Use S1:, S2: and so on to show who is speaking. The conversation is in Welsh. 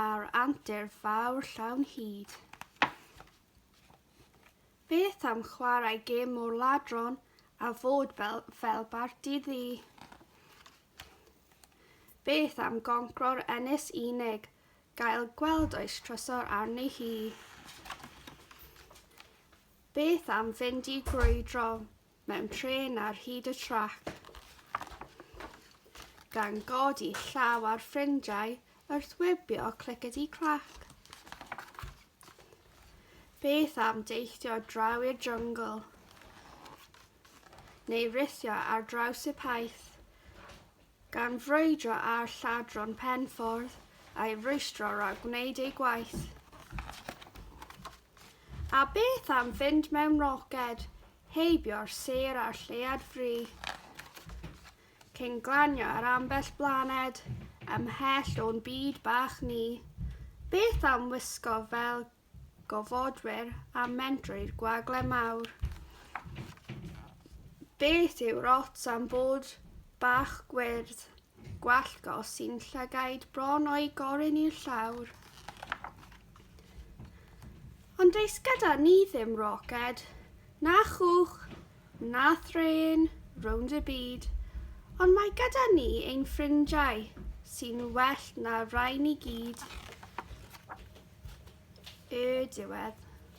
S1: a'r antur fawr llawn hud. Beth am chwarae gêm o'r ladron a fod fel, fel barti ddi? Beth am goncro'r ennis unig, gael gweld oes trysor arni hi? Beth am fynd i grwydro, mewn trên ar hyd y trac, gan godi llaw ar ffrindiau wrth wybio clicedi clac. Beth am deithio draw i'r jungle? Neu rithio ar draws y paith? Gan frwydro ar lladron penffordd a'i rwystro rhag gwneud ei gwaith. A beth am fynd mewn roced, heibio'r sêr a'r lleuad fri, cyn glanio ar ambell blaned, ymhell o'n byd bach ni? Beth am wisgo fel gofodwyr a mynd drwy'r gwagle mawr? Beth yw'r ots am fod bach gwyrdd? Gwallt gos sy'n llygaid bron o'i gorin i'r llawr. Ond does gyda ni ddim roced, na chwch, na threin, rownd y byd, ond mae gyda ni ein ffrindiau sy'n well na rai ni gyd. Y diwedd.